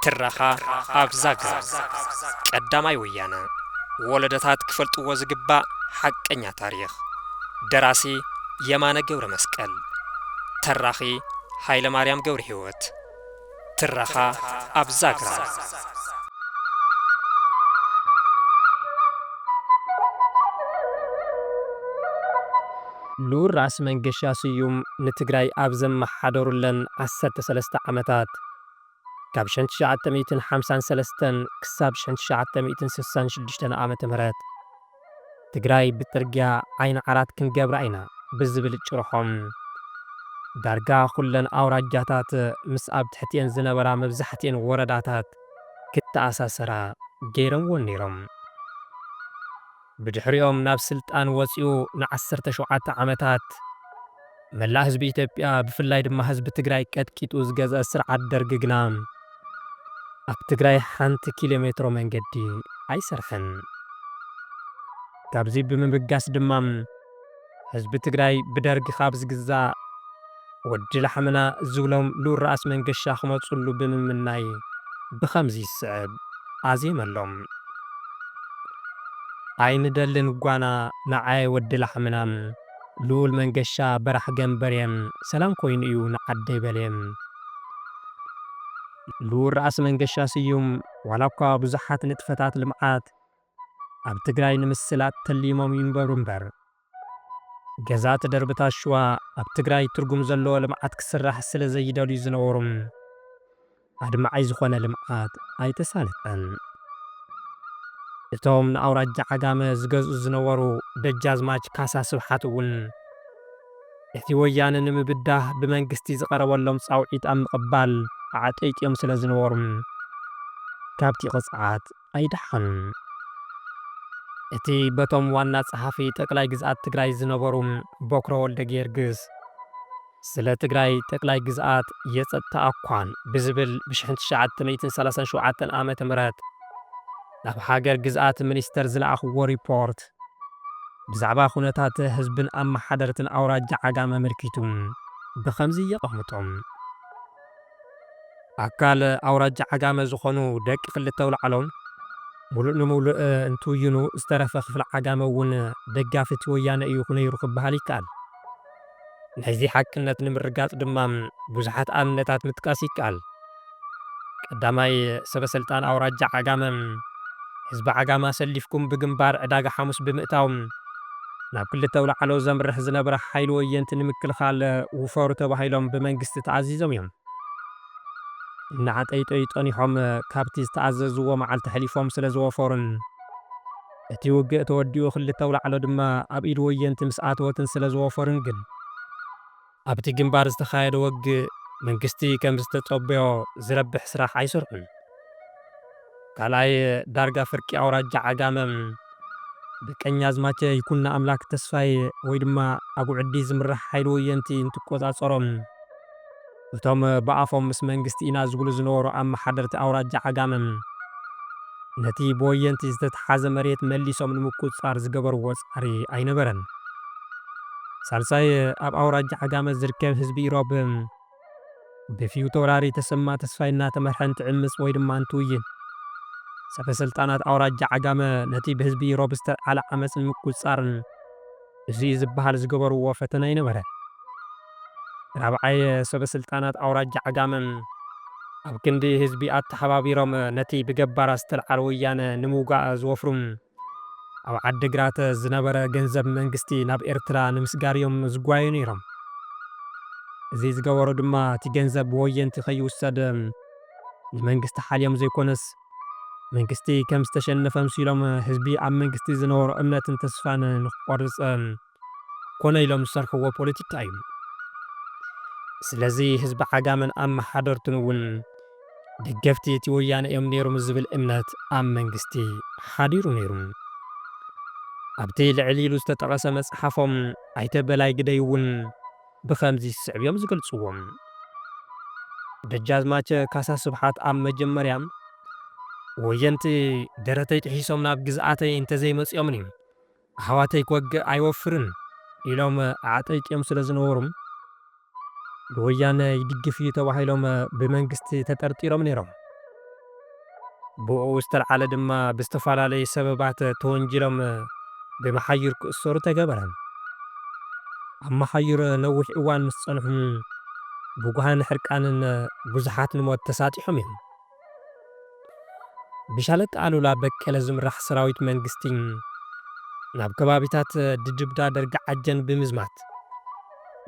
ትረኻ ኣብ ዛግራ ቀዳማይ ወያነ ወለደታት ክፈልጥዎ ዝግባእ ሓቀኛ ታሪኽ ደራሲ የማነ ገብረ መስቀል ተራኺ ሃይለ ማርያም ገብረ ህይወት ትረኻ ኣብ ዛግራ። ልኡል ራእሲ መንገሻ ስዩም ንትግራይ ኣብ ዘመሓደሩለን ዓሰርተ ሰለስተ ዓመታት፣ ካብ ሸን ትሽዓተ ሚእትን ሓምሳን ሰለስተን ክሳብ ሸን ትሽዓተ ሚእትን ስሳን ሽዱሽተን ዓ.ም፣ ትግራይ ብፅርግያ ዓይኒ ዓራት ክንገብራ ኢና ብዝብል ጭርሖም ዳርጋ ኩለን ኣውራጃታት ምስ ኣብ ትሕቲኤን ዝነበራ መብዛሕቲኤን ወረዳታት ክተኣሳሰራ ገይረምወን ነይሮም። ብድሕሪኦም ናብ ስልጣን ወፂኡ ንዓሰርተ ሸውዓተ ዓመታት፣ መላእ ህዝቢ ኢትዮጵያ ብፍላይ ድማ ህዝቢ ትግራይ ቀጥቂጡ ዝገዝአ ስርዓት ደርግ ግና ኣብ ትግራይ ሓንቲ ኪሎ ሜትሮ መንገዲ ኣይሰርሐን። ካብዚ ብምብጋስ ድማ ህዝቢ ትግራይ ብደርግ ካብ ዝግዛእ ወዲ ላሕምና ዝብሎም ልኡል ራእሲ መንገሻ ክመፅሉ ብምምናይ ብኸምዚ ዝስዕብ ኣዜመሎም። ኣይንደልን ጓና ንዓየ ወዲ ላሕምና! ልኡል መንገሻ በራሕ ገምበርየ ሰላም ኮይኑ እዩ ንዓደይ በልየ። ልኡል ራእሲ መንገሻ ስዩም ዋላኳ ብዙሓት ንጥፈታት ልምዓት ኣብ ትግራይ ንምስላጥ ተሊሞም ይንበሩ እምበር፣ ገዛእቲ ደርብታት ሽዋ ኣብ ትግራይ ትርጉም ዘለዎ ልምዓት ክስራሕ ስለዘይደልዩ ዝነበሩ፣ ኣድማዒ ዝኾነ ልምዓት ኣይተሳለጠን። እቶም ንኣውራጃ ዓጋመ ዝገዝኡ ዝነበሩ ደጃዝማች ካሳ ስብሓት እውን ነቲ ወያነ ንምብዳህ ብመንግስቲ ዝቐረበሎም ፃውዒት ኣብ ምቕባል ኣዕጠይጢዮም ስለዝነበሩ ካብቲ ቅፅዓት ኣይደሓኑን። እቲ በቶም ዋና ጸሓፊ ጠቅላይ ግዝኣት ትግራይ ዝነበሩ ቦክረ ወልደጊዮርግስ ስለ ትግራይ ጠቅላይ ግዝኣት የጸጥታ ኣኳን ብዝብል ብሽሕን ትሽዓተ ሚእትን ሰላሳን ሸውዓተን ዓመተ ምህረት ናብ ሃገር ግዝኣት ሚኒስተር ዝለኣኽዎ ሪፖርት ብዛዕባ ኩነታት ህዝብን ኣመሓደርትን ኣውራጃ ዓጋመ ኣመልኪቱ ብኸምዚ የቐምጦ። ኣካል ኣውራጃ ዓጋመ ዝኾኑ ደቂ ክልተ ኣውላዕሎም ሙሉእ ንሙሉእ እንትውይኑ ዝተረፈ ክፍሊ ዓጋመ እውን ደጋፊ እቲ ወያነ እዩ ነይሩ ክበሃል ይከኣል። ናይዚ ሓቅነት ንምርጋፅ ድማ ብዙሓት ኣብነታት ምጥቃስ ይከኣል። ቀዳማይ ሰበሰልጣን ኣውራጃ ዓጋመ ህዝቢ ዓጋመ ኣሰሊፍኩም ብግንባር ዕዳጋ ሓሙስ ብምእታው፣ ናብ ክልተ ኣውላዕሎ ዘምርሕ ዝነበረ ሓይሊ ወየንቲ ንምክልኻል ውፈሩ ተባሂሎም ብመንግስቲ ተኣዚዞም እዮም። እናዓጠይጠዩ ጸኒሖም ካብቲ ዝተኣዘዝዎ መዓልቲ ኣሕሊፎም ስለ ዝወፈሩን እቲ ውግእ ተወዲኡ ክልተ ኣውላዕሎ ድማ ኣብ ኢድ ወየንቲ ምስ ኣተወትን ስለ ዝወፈሩን ግን፣ ኣብቲ ግንባር ዝተኻየደ ወግእ መንግስቲ ከምዝተጸበዮ ዝረብሕ ስራሕ ኣይሰርሑን። ካልኣይ ዳርጋ ፍርቂ ኣውራጃ ዓጋመ ብቀኛዝማቸ ይኩኖኣምላክ ተስፋይ ወይ ድማ ኣጉዕዲ ዝምራሕ ሓይሊ ወየንቲ እንትቆጻጸሮ እቶም ብኣፎም ምስ መንግስቲ ኢና ዝብሉ ዝነበሩ ኣመሓደርቲ ኣውራጃ ዓጋመ ነቲ ብወየንቲ ዝተትሓዘ መሬት መሊሶም ንምቁጽጻር ዝገበርዎ ጻዕሪ ኣይነበረን። ሳልሳይ ኣብ ኣውራጃ ዓጋመ ዝርከብ ህዝቢ ኢሮብ ብፊውቶራሪ ተሰማ ተስፋይ እናተመርሐ እንትዕምጽ ወይ ድማ እንትውይን ሰበ ስልጣናት ኣውራጃ ዓጋመ ነቲ ብህዝቢ ኢሮብ ዝተልዓለ ዓመጽ ንምቁጽጻርን እዚ'ዩ ዝበሃል ዝገበርዎ ፈተነ ኣይነበረ። ራብዓይ ሰበ ስልጣናት ኣውራጃ ዓጋመ ኣብ ክንዲ ህዝቢ ኣተሓባቢሮም ነቲ ብገባራት ዝተልዓለ ወያነ ንምውጋእ ዝወፍሩን ኣብ ዓዲግራት ዝነበረ ገንዘብ መንግስቲ ናብ ኤርትራ ንምስጋር እዮም ዝጓየዩ ነይሮም። እዚ ዝገበሩ ድማ እቲ ገንዘብ ብወየንቲ ከይውሰድ ንመንግስቲ ሓልዮም ዘይኮነስ መንግስቲ ከም ዝተሸነፈ ኣምሲሎም ህዝቢ ኣብ መንግስቲ ዝነበሮ እምነትን ተስፋን ንክቆርፅ ኮነ ኢሎም ዝሰርሕዎ ፖለቲካ እዩ። ስለዚ ህዝቢ ዓጋመን ኣመሓደርቱን እውን ደገፍቲ እቲ ወያነ እዮም ነይሮም ዝብል እምነት ኣብ መንግስቲ ሓዲሩ ነይሩ። ኣብቲ ልዕል ኢሉ ዝተጠቐሰ መፅሓፎም ኣይተ በላይ ግደይ እውን ብኸምዚ ዝስዕብ እዮም ዝገልፅዎ። ደጃዝማቸ ካሳ ስብሓት ኣብ መጀመርያ ወየንቲ ደረተይ ጥሒሶም ናብ ግዝኣተይ እንተዘይመፂኦምኒ፣ ኣሕዋተይ ክወግእ ኣይወፍርን ኢሎም ኣዕጠይቂዮም ስለ ዝነበሩ ንወያነ ይድግፍ እዩ ተባሂሎም ብመንግስቲ ተጠርጢሮም ነይሮም። ብኡኡ ዝተልዓለ ድማ ብዝተፈላለዩ ሰበባት ተወንጂሎም ብመሓዩር ክእሰሩ ተገበረ። ኣብ መሓዩር ነዊሕ እዋን ምስ ፀንሑ ብጉሃን ሕርቃንን ብዙሓት ንሞት ተሳጢሖም እዮም። ብሻለቃ ኣሉላ በቀለ ዝምራሕ ሰራዊት መንግስቲ ናብ ከባቢታት ድድብዳ ደርጊ ዓጀን ብምዝማት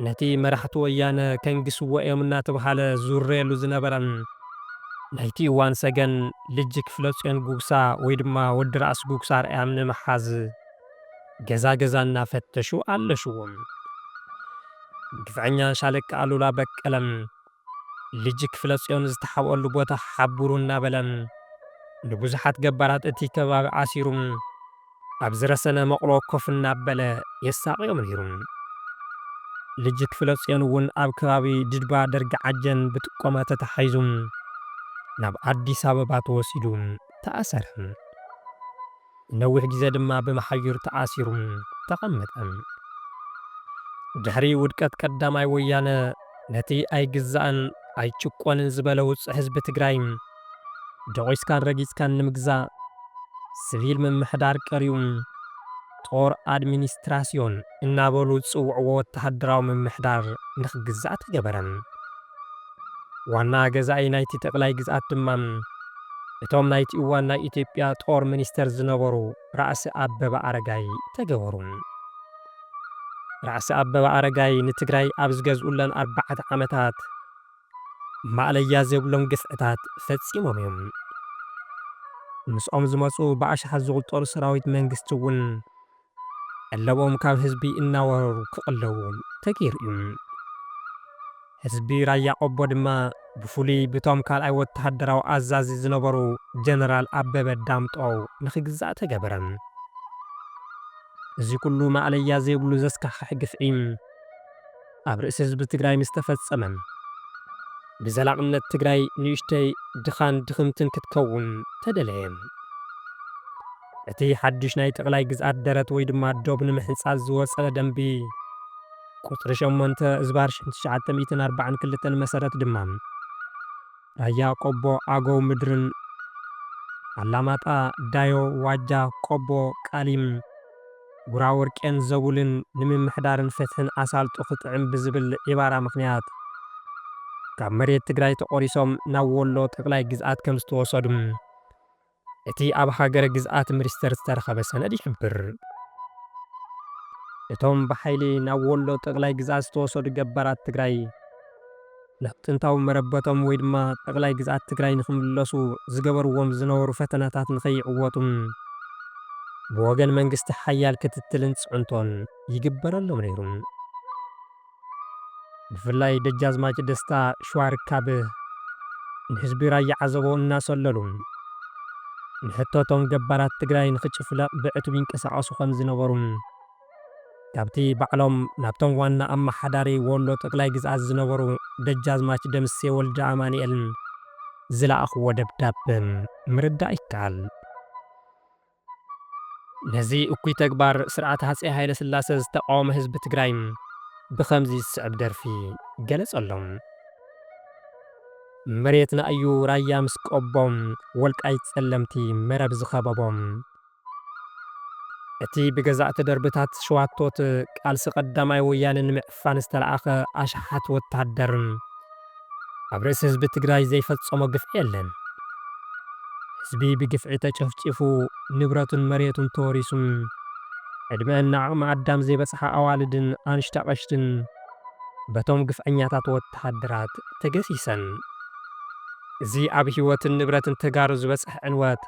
ነቲ መራሕቲ ወያነ ከንግስዎ እዮም እናተብሃለ ዝውረየሉ ዝነበረ ናይቲ እዋን ሰገን ልጅ ክፍለጽዮን ጉግሳ ወይ ድማ ወዲ ራእሲ ጉግሳ ኣርኣያም ንምሓዝ ገዛ ገዛ እናፈተሹ ኣለሽዎም። ግፍዐኛ ሻለቃ ኣሉላ በቀለ ልጅ ክፍለጽዮን ዝተሓብኦሉ ቦታ ሓብሩ እናበለ ንብዙሓት ገባራት እቲ ከባቢ ኣሲሩ ኣብ ዝረሰነ መቑሎ ኮፍ እናበለ የሳቕዮም ነይሩ። ልጅ ክፍለጽዮን እውን ኣብ ከባቢ ድድባ ደርጊ ዓጀን ብጥቆማ ተታሒዙ ናብ ኣዲስ ኣበባ ተወሲዱ ተኣሰረ። ንነዊሕ ግዜ ድማ ብመሓዩር ተኣሲሩ ተቐመጠ። ድሕሪ ውድቀት ቀዳማይ ወያነ፣ ነቲ ኣይግዛእን ኣይጭቆንን ዝበለ ውጹዕ ህዝቢ ትግራይ፣ ደቂስካን ረጊጽካን ንምግዛእ፣ ስቪል ምምሕዳር ቀሪኡ፣ ጦር፣ ኣድሚኒስትራስዮን፣ እናበሉ ዝጽውዕዎ ወተሃደራዊ ምምሕዳር ንኽግዛእ ተገበረ። ዋና ገዛኢ ናይቲ ጠቅላይ ግዝኣት ድማ እቶም ናይቲ እዋን ናይ ኢትዮጵያ ጦር ሚኒስተር ዝነበሩ ራእሲ ኣበበ ኣረጋይ ተገበሩ። ራእሲ ኣበበ ኣረጋይ ንትግራይ ኣብ ዝገዝኡለን ኣርባዕተ ዓመታት ማእለያ ዘይብሎም ግፍዕታት ፈጺሞም እዮም። ምስኦም ዝመጹ ብኣሽሓት ዝቑጸሩ ሰራዊት መንግስቲ እውን ቀለቦም ካብ ህዝቢ እናወረሩ ክቕለቡ ተገይሩ እዩ። ህዝቢ ራያ ቆቦ ድማ ብፍሉይ ብቶም ካልኣይ ወተሃደራዊ ኣዛዚ ዝነበሩ ጀነራል ኣበበ ዳምጠው ንክግዛእ ተገበረ። እዚ ኩሉ ማእለያ ዘይብሉ ዘስካሕኽሕ ግፍዒ፣ ኣብ ርእሲ ህዝቢ ትግራይ ምስ ተፈጸመን ብዘላቕነት ትግራይ ንእሽተይ ድኻን ድኽምትን ክትከውን ተደለየ። እቲ ሓዱሽ ናይ ጠቕላይ ግዝኣት ደረት ወይ ድማ ዶብ ንምሕንጻጽ ዝወጸ ደንቢ ቁጽሪ ሸሞንተ እዝባር ትሽዓተ ሚእትን ኣርባዓን ክልተን መሰረት ድማ፣ ራያ ቆቦ ኣገው ምድርን ኣላማጣ ዳዮ ዋጃ ቆቦ ቃሊም ጉራወርቄን ዘቡልን ንምምሕዳርን ፍትሕን ኣሳልጦ ክጥዕም ብዝብል ዒባራ ምኽንያት ካብ መሬት ትግራይ ተቖሪሶም ናብ ወሎ ጠቕላይ ግዝኣት ከምዝተወሰዱ እቲ ኣብ ሃገረ ግዝኣት ምሪስተር ዝተረኸበ ሰነድ ይሕብር። እቶም ብሓይሊ ናብ ወሎ ጠቕላይ ግዝኣት ዝተወሰዱ ገባራት ትግራይ ናብ ጥንታዊ መረበቶም ወይ ድማ ጠቕላይ ግዝኣት ትግራይ ንክምለሱ ዝገበርዎም ዝነበሩ ፈተነታት ንከይዕወቱን ብወገን መንግስቲ ሓያል ክትትልን ፅዕንቶን ይግበረሎም ነይሩ። ብፍላይ ደጃዝማች ደስታ ሽዋር ካብ ንህዝቢ ራያ ዓዘቦ እናሰለሉ ንሕቶ እቶም ገባራት ትግራይ ንክጭፍለቕ ብዕቱብ ይንቀሳቐሱ ከምዝነበሩን ካብቲ ባዕሎም ናብቶም ዋና ኣማሓዳሪ ወሎ ጠቅላይ ግዝኣት ዝነበሩ ደጃዝማች ደምሴ ወልደኣማኒኤል ዝለኣኽዎ ደብዳበ ምርዳእ ይከኣል። ነዚ እኩይ ተግባር ስርዓት ሃፀይ ሃይለስላሰ ዝተቓወመ ህዝቢ ትግራይ ብኸምዚ ዝስዕብ ደርፊ ገለፀሎም። መሬትና እዩ ራያ ምስ ቆቦ፣ ወልቃይት ፀለምቲ መረብ ዝኸበቦ። እቲ ብገዛእቲ ደርብታት ሸዋቶት ቃልሲ ቀዳማይ ወያነ ንምዕፋን፣ ንምሽፋን ዝተላእከ ኣሽሓት ወታሃደር ኣብ ርእሲ ህዝቢ ትግራይ ዘይፈጸሞ ግፍዒ የለን። ህዝቢ ብግፍዒ ተጨፍጪፉ ንብረቱን መሬቱን ተወሪሱን ዕድመኣን ንዓቕሚ ኣዳም ዘይበጽሓ ኣዋልድን ኣንሽቲ ኣቐሽትን በቶም ግፍዐኛታት ወታሃደራት ተገሲሰን። እዚ ኣብ ህይወትን ንብረትን ተጋሩ ዝበጽሐ ዕንወት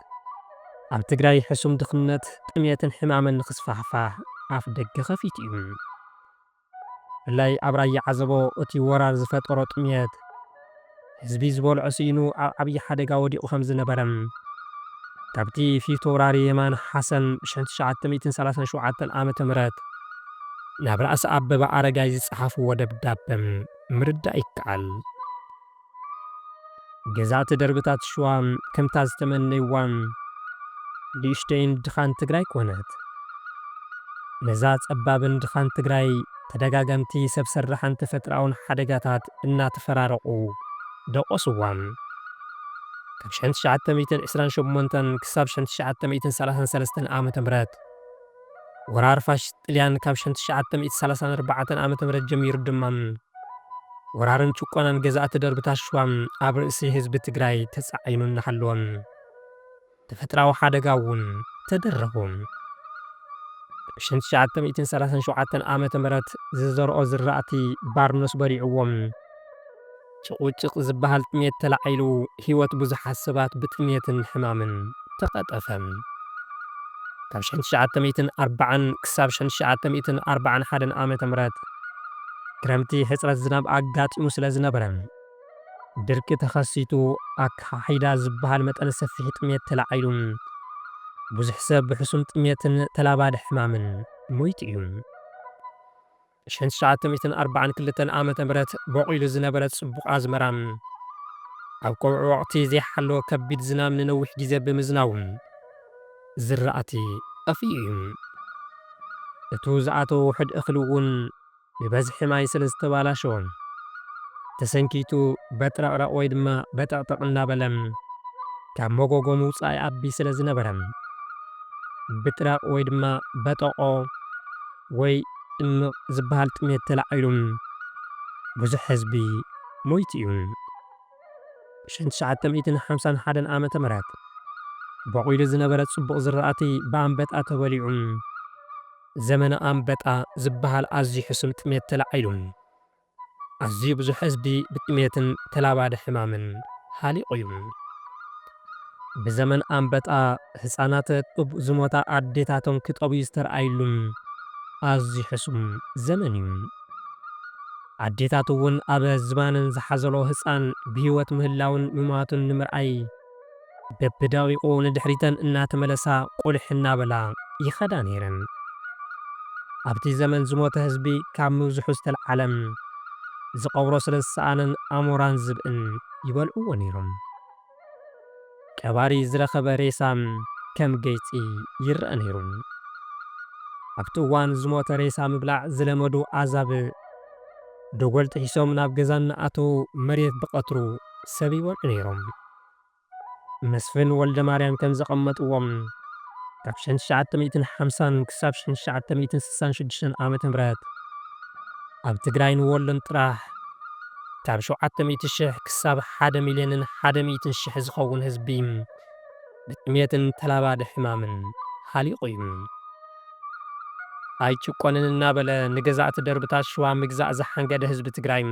ኣብ ትግራይ ሕሱም ድኽነት፣ ጥምየትን ሕማምን ንክስፋሕፋሕ ኣፍደገ ከፊቱ እዩ። ብፍላይ ኣብ ራያ ዓዘቦ እቲ ወራር ዝፈጠሮ ጥምየት ህዝቢ ዝበልዖ ስኢኑ ኣብ ዓብዪ ሓደጋ ወዲቑ ከምዝነበረን ካብቲ ፊተውራሪ የማነ ሓሰን ብ ሽሕ ትሽዓተ ሚእትን ሰላሳን ሸውዓተን ዓመተ ምህረት ናብ ራእሲ ኣበበ ኣረጋይ ዝፀሓፍዎ ደብዳበ ምርዳእ ይከኣል። ገዛእቲ ደርብታት ሽዋ ከምታ ዝተመነይዋ ንእሽተይን ድኻን ትግራይ ኮነት። ነዛ ጸባብን ድኻን ትግራይ ተደጋገምቲ ሰብ ሰራሕን ተፈጥራኣውን ሓደጋታት እናተፈራረቑ ደቖስዋ። ካብ ሽሕን ትሽዓተ ሚእትን ዕስራን ሸሞንተን ክሳብ ሽሕን ትሽዓተ ሚእትን ሰላሳን ሰለስተን ዓመተ ምህረት፣ ወራር ፋሽስት ጥልያን ካብ ሸን ትሽዓተ ሚእቲ ሰላሳን ኣርባዕተን ዓመተ ምህረት ጀሚሩ ድማ ወራርን ጭቆናን ገዛእቲ ደርብታት ሽዋ ኣብ ርእሲ ህዝቢ ትግራይ ተጻዒኑ እናሃለወ ተፈጥራዊ ሓደጋ እውን ተደረኹ። ኣብ ሸን ትሽዓተ ሚእትን ሰላሳን ሸውዓተን ዓመተ ምህረት ዝዘርኦ ዝራእቲ ባርኖስ በሊዕዎ። ጭቑጭቕ ዝብሃል ጥሜት ተላዒሉ ህይወት ብዙሓት ሰባት ብጥሜትን ሕማምን ተቐጠፈ። ካብ ሽሕን ትሽዓተ ሚእትን ኣርባዓን ክሳብ ሽሕን ትሽዓተ ሚእትን ኣርባዓን ሓደን ዓመተ ምህረት ክረምቲ ሕጽረት ዝናብ ኣጋጢሙ ስለ ዝነበረ ድርቂ ተኸሲቱ ኣካሓሒዳ ዝብሃል መጠነ ሰፊሕ ጥሜት ተላዒሉ ብዙሕ ሰብ ብሕሱም ጥሜትን ተላባዲ ሕማምን ሞይቱ እዩ። ሽሕን ትሽዓተ ሚእትን ኣርባዓን ክልተን ዓመተ ምህረት ቦቒሉ ዝነበረ ጽቡቕ ኣዝመራ፣ ኣብ ቀውዒ ወቕቲ ዘይሓለወ ከቢድ ዝናም ንነዊሕ ግዜ ብምዝናቡ፣ ዝራእቲ ጠፊኡ እዩ። እቱ ዝኣተወ ውሑድ እኽሊ እውን ብበዝሒ ማይ ስለ ዝተባላሸወ፣ ተሰንኪቱ በጥረቕረቕ ወይ ድማ በጠቕጠቕ እናበለ ካብ መጎጎ ምውጻእ ይኣቢ ስለ ዝነበረ፣ ብጥረቕ ወይ ድማ በጠቖ፣ ወይ እምቕ ዝበሃል ጥሜት ተላዒሉ ብዙሕ ህዝቢ ሞይቱ እዩ። ብሽሕን ትሽዓተ ሚእትን ሓምሳን ሓደን ዓመተ ምህረት ቦቒሉ ዝነበረ ጽቡቕ ዝራእቲ ብኣንበጣ ተበሊዑ ዘመነ ኣንበጣ ዝበሃል ኣዝዩ ሕሱም ጥሜት ተላዒሉ። ኣዝዩ ብዙሕ ህዝቢ ብጥሜትን ተላባዲ ሕማምን ሃሊቑ ዩ። ብዘመን ኣምበጣ ህፃናት ጡብ ዝሞታ ኣዴታቶም ክጠብዩ ዝተርኣይሉ ኣዝዩ ሕሱም ዘመን ዩ። ኣዴታት ውን ኣብ ዝባነን ዝሓዘለኦ ህፃን ብሂወት ምህላዉን ምሟቱን ንምርኣይ በብደቒቑ ንድሕሪተን እናተመለሳ ቁሊሕ እናበላ ይኸዳ ነይረን። ኣብቲ ዘመን ዝሞተ ህዝቢ ካብ ምብዝሑ ዝተልዓለ ዝቐብሮ ስለ ዝሰኣነን ኣሞራን ዝብእን ይበልዕዎ ነይሮም። ቀባሪ ዝረኸበ ሬሳ ከም ገይፂ ይረኣ ነይሩ። ኣብቲ እዋን ዝሞተ ሬሳ ምብላዕ ዝለመዱ ኣዛብእ፣ ደጎል ጥሒሶም ናብ ገዛ እናኣተዉ መሬት ብቐትሩ ሰብ ይበልዑ ነይሮም። መስፍን ወልደማርያም ከም ዘቐመጥዎ፣ ካብ ሽሕን ትሽዓተ ሚእትን ሓምሳን ክሳብ ሽሕን ትሽዓተ ሚእትን ስሳን ሽዱሽተን ዓመተ ምህረት ኣብ ትግራይን ወሎን ጥራሕ ካብ ሸውዓተ ሚእቲ ሽሕ ክሳብ ሓደ ሚልዮንን ሓደ ሚእትን ሽሕ ዝኸውን ህዝቢ ብጥሜትን ተላባዲ ሕማምን ሃሊቑ እዩ። ኣይጭቆንን እናበለ ንገዛእቲ ደርብታት ሽዋ ምግዛእ ዝሓንገደ ህዝቢ ትግራይ፣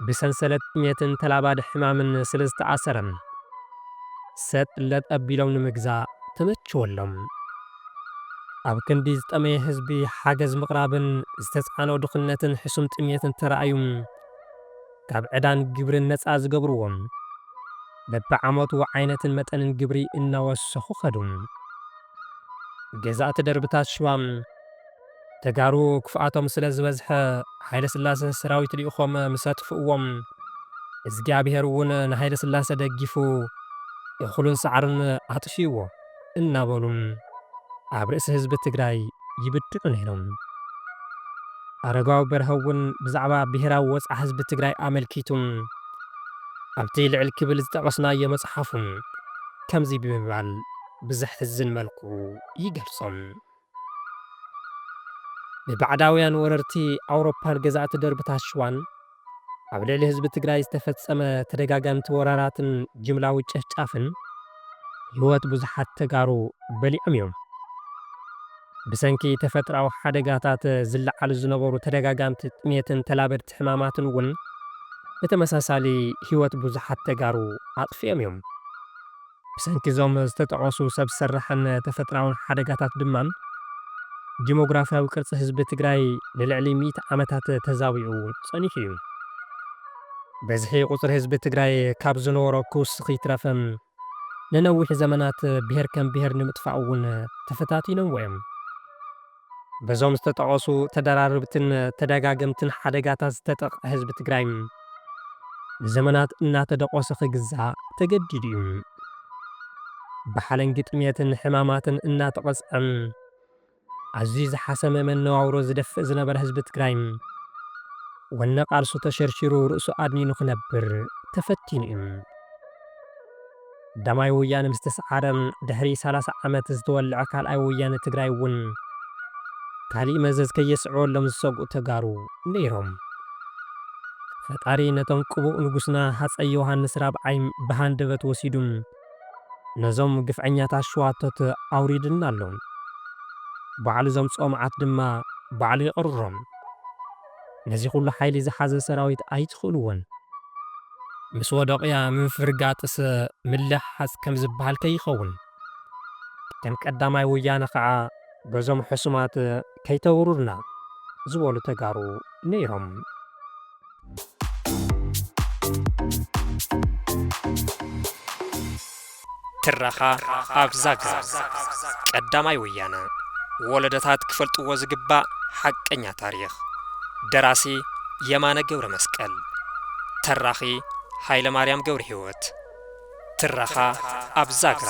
ብሰንሰለት ጥሜትን ተላባዲ ሕማምን ስለ ዝተኣሰረ፣ ሰጥ ለጥ ኣቢሎም ንምግዛእ ተመቸወሎም። ኣብ ክንዲ ዝጠመየ ህዝቢ ሓገዝ ምቕራብን ዝተፅዓኖ ድኽነትን ሕሱም ጥሜትን ተራእዩ፣ ካብ ዕዳን ግብርን ነፃ ዝገብርዎ። በቢዓመቱ ዓይነትን መጠንን ግብሪ እናወሰኹ ከዱ። ገዛእቲ ደርብታት ሽዋ ተጋሩ ክፍኣቶም ስለ ዝበዝሐ ሃይለስላሰ ሰራዊት ልኢኾም ምስ ኣጥፍእዎም እዝጊኣብሄር እውን ንሃይለስላሰ ደጊፉ እኽሉን ሳዕሩን ኣጥፊእዎ። እናበሉ ኣብ ርእሲ ህዝቢ ትግራይ ይብድዑ ነይሮም። ኣረጋዊ በርሀ እውን ብዛዕባ ብሄራዊ ወፅዓ ህዝቢ ትግራይ ኣመልኪቱ ኣብቲ ልዕል ክብል ዝጠቐስናዮ መፅሓፉ ከምዚ ብምባል ብዘሕዝን መልክዑ ይገልፆ። ብባዕዳውያን ወረርቲ ኣውሮፓን ገዛእቲ ደርብታት ሽዋን ኣብ ልዕሊ ህዝቢ ትግራይ ዝተፈፀመ ተደጋጋምቲ ወራራትን ጅምላዊ ጨፍጫፍን ህይወት ብዙሓት ተጋሩ በሊዖም እዮም። ብሰንኪ ተፈጥራዊ ሓደጋታት ዝለዓሉ ዝነበሩ ተደጋጋምቲ ጥሜትን ተላበድቲ ሕማማትን እውን ብተመሳሳሊ ህይወት ብዙሓት ተጋሩ ኣጥፊኦም እዮም። ብሰንኪ እዞም ዝተጠቐሱ ሰብ ሰራሕን ተፈጥራውን ሓደጋታት ድማ ዲሞግራፍያዊ ቅርፂ ህዝቢ ትግራይ ንልዕሊ ሚእቲ ዓመታት ተዛቢዑ ፀኒሑ እዩ። በዝሒ ቁፅሪ ህዝቢ ትግራይ ካብ ዝነበሮ ክውስኽ ይትረፍ ንነዊሕ ዘመናት ብሄር ከም ብሄር ንምጥፋእ እውን ተፈታቲኖምዎ እዮም። በዞም ዝተጠቐሱ ተደራረብትን ተደጋገምትን ሓደጋታት ዝተጠቕዐ ህዝቢ ትግራይ ንዘመናት እናተደቖሰ ክግዛእ ተገዲዱ እዩ። ብሓለንጊ ጥምየትን ሕማማትን እናተቐፅዐ ኣዝዩ ዝሓሰመ መነባብሮ ዝደፍእ ዝነበረ ህዝቢ ትግራይ ወነ ቃልሱ ተሸርሺሩ ርእሱ ኣድኒኑ ክነብር ተፈቲኑ እዩ። ዳማይ ወያነ ምስ ተስዓረ ድሕሪ ሰላሳ ዓመት ዝተወልዐ ካልኣይ ወያነ ትግራይ እውን ካሊእ መዘዝ ከየስዕበሎም ዝሰግኡ ተጋሩ ነይሮም። ፈጣሪ ነቶም ቅቡእ ንጉስና ሃፀይ ዮውሃንስ ራብዓይ ብሃንደበት ወሲዱ ነዞም ግፍዐኛታት ሸዋቶት ኣውሪዱልና ኣሎ። ባዕሉ ዘምፅኦ መዓት ድማ ባዕሉ የቕርሮም። ነዚ ኩሉ ሓይሊ ዝሓዘ ሰራዊት ኣይትኽእልዎን። ምስ ወደቕያ ምፍርጋጥስ ምልሕሓጽ ከም ዝብሃል ከይኸውን። ከም ቀዳማይ ወያነ ከኣ በዞም ሕሱማት ከይተውሩርና ዝበሉ ተጋሩ ነይሮም። ትረኻ ኣብ ዛግራ ቀዳማይ ወያነ ወለዶታት ክፈልጥዎ ዝግባእ ሓቀኛ ታሪኽ ደራሲ የማነ ገብረመስቀል ተራኺ ሃይለማርያም ገብረሂወት ትረኻ ኣብ ዛግራ